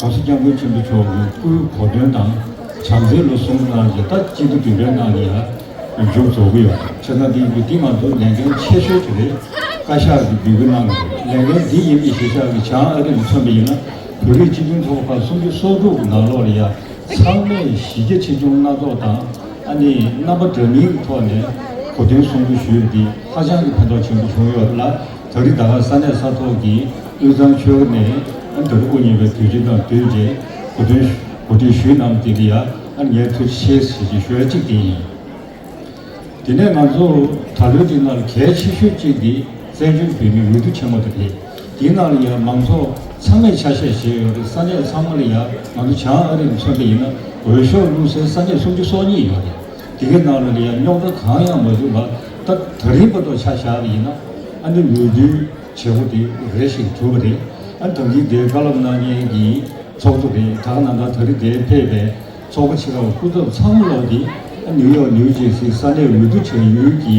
གོང་ས་སྐྱབས་མགོན་ཆེན་པོ་མཆོག་གི་སྐུའི་གོ་སྟོན་དང་བྱམས་བརྩེའི་ལོ་གསུམ་གནང་རྗེས་ད་གཅིག་ཏུ་འདི་འདྲའི་གནང་གི་ཡ་མཇུག་རྫོགས་གི་ཡོད་ཆ་ཚང་འདི་ཡིན་གྱི་འདི་ང་ཚོ་ལས་འགན་ཆེ་ཤོས་དེ་རེད་བཀའ་ཤག་གིས་འབུལ་རྒྱུ་གནང་གི་རེད་ལས་འགན་འདི་ཡིན་གྱི་གཞིས་ཆགས་ཀྱི་བྱང་ཨ་རི་ལ་མཚོན་པ་ཡིན་ན་བོད་རིགས་སྤྱི་མཐུན་ཚོགས་པ་ཁག་སུམ་ཅུ་སོ་དྲུག་གི་ནང་ལོགས་ལ་ཡ་ཚང་མས་གཞི་རྒྱ་ཆེ་ཆུང་སྣ་ཚོགས་དང་ཨ་ནི་རྣམ་པ་འདྲ་མིན་གྱི་ཐོག་ནས་གོ་སྟོན་གསུང་འབུལ་ཞུས་པ་འདི་ཧ་ཅང་གི་ཕན་ཐོགས་ཆེན་པོ་བྱུང་ཡོད་ལ། ད་རིང་ད་སྔ་ས་གནས་ས་ཐོག་གི་དབུས་གཙང་ཆོལ་ཁ་ནས་ཨ་མདོར་དབུ་བརྙེས་པའི་དུས་ཆེན་དང་བསྟུན་རྗེས་གོ་དོན་གོ་སྒྲིག་ཞུས་གནང་དེ་འདི་ཡ་ཨ་ཉལ་ཐུ་ཆེས་ཞེས་ཀྱི་ཞོལ་གཅིག་དེ་ཡིན། དེ་ནས་ང་ཚོ་ད་ལོའི་སྤྲིན་ནག་ལ་གལ་ཆེ་ཤོས་གཅིག་འདི་བཙན་བྱོལ་བོད་མིའི་འོས་བསྡུ་ཆེན་མོ་དེ་རེད། འདི་ནང་ལ་ཡ་མང་ཚོགས་ཚང་མས་ཆ་ཤས་བཞེས་ཡོད་རེད་ས་གནས་ཚང་མ་ལ་ཡ་ང་ཚོ་བྱང་ཨ་རི་ནས་མཚོན་པ་ཡིན་ན་འོས་ཤོག་བླུགས་སའི་ས་གནས་སུམ་ཅུ་སོ་གཉིས་ཡོད་རེད། དེ་གའི་ནང་རུ་ལས་ཡག་རྙོག་དྲ་གང་ཡང་མ་བྱུང་ལ་ད་ད་རིང་པ་ཏོ་ཆ་བཞག་པ་ཡིན་ན་ཨ་ནི་ལུས་རྡུལ་བྱེད་པོ་དེ་རེ་ཞིག་གྲུབ་པ་རེད་ཨ་དྲང་ཁིག་དེ་དཀའ་ལབ་གནང་མཁན་གྱི་ཚོགས་གཙོ་རེད་དྲག་ན་ད་ད་རི་དེ་ཕེབས་པའི་ཚོགས་པ་ཕྱི་རབས་སྐུ་ཚབ་ཚང་མ་ལོག་སྟེ་ཨ་ནིའུ་ཡོག་ནིའུ་ཇེར་སི་ས་གནས་འོས་བསྡུ་བྱ་ཡུལ་གྱི་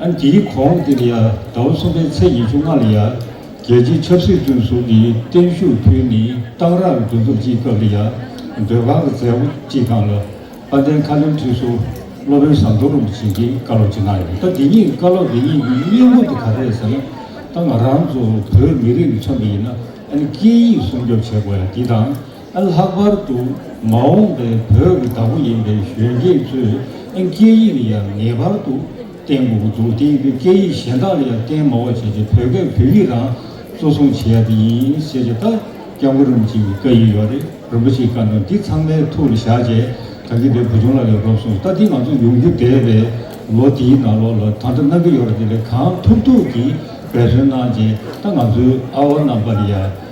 ཨ་འདིའི་གོང་འདིར་ཡ་ཟླ་བ་གསུམ་པའི་ཚེས་ཉེར་བཅུ་ལྔ་ལ་ཡ་རྒྱལ་སྤྱིའི་ཆབ་སྲིད་བཙོན་ཟུར་གྱི་བརྟན་བཞུགས་དུས་ནི་གཏང་རག་གི་གྲོས་ཚོགས་སྤྱིའི་སྐབས་རེ་ཡ་སྡོད་ཁང་གི་མཛད་སྒོ་སྤྱི་ཁང་ལ་དཔལ་ལྡན་མཁའ་ལྡིང་ཁྲི་ཟུར་སློབ་དཔོན་ཟམ་གདོང་རིན་པོ་ཆེ་འདིའི་བཀའ་སློབ་སྤྱི་གནང་ཡོད་ད་འདི་གཉིས་བཀའ་སློབ་དེ་གཉིས་ཀྱི་སྙིང་བོ་དེ་ག་རེད་ཟེར་ན་ད་ང་རང་ཚོ་བོད་མི་རིགས་ཀྱི་ཆ་ནས་ཡིན་ན་ཨ་ནི་སྐད་ཡིག་སྲུང་སྐྱོབ་བྱེད་དགོས་ཡ་འདི་དང། ལྷག་པར་དུ་མ་འོངས་པའི་བོད་ཀྱི་བདག་པོ་ཡིན་པའི་གཞོན་སྐྱེས་ཚོས་སྐད་ཡིག་ལ་ཡང་ངེས་པར་དུ་བརྟེན་དགོས་འདུག་དེ་ཡིན་དུས་སྐད་ཡིག་གཞན་དག་ལ་ཡང་བརྟེན་མང་བ་བྱས་ཏེ་བོད་སྐད་བོད་ཡིག་རང་གཙོ་བཟུང་བྱེད་ཡ་དེ་ཡིན་ཟེར་གྱི་ལྟ་སྐྱབས་མགོན་རིན་པོ་ཆེ་ཡི་བཀའ་ཡིག་ཡོད་རེད་རིན་པོ་ཆེའི་བཀའ་དང་འདི་ཚང་མའི་ཐུགས་ལ་བཞག་རྗེས་གངས་སྐྱིད་པའི་བུ་ཆུང་ལགས་ལས་རོབ་སོང་ལྟ་འདི་ང་ཚོ་ཡོང་རྒྱུ་འདས་པའི་ལོ་འདིའི་ནང་ལོགས་ལ་ད་ལྟ་གནང་གི་ཡོད་རེད་དེ་ལས་གང་ཐུབ་ཐུབ་ཀྱིས་འབད་བརྩོན་གནང་རྗེས་ལྟ་ང་ཚོའི་ཨ་བ་རྣམས་པ་ལ་ཡང།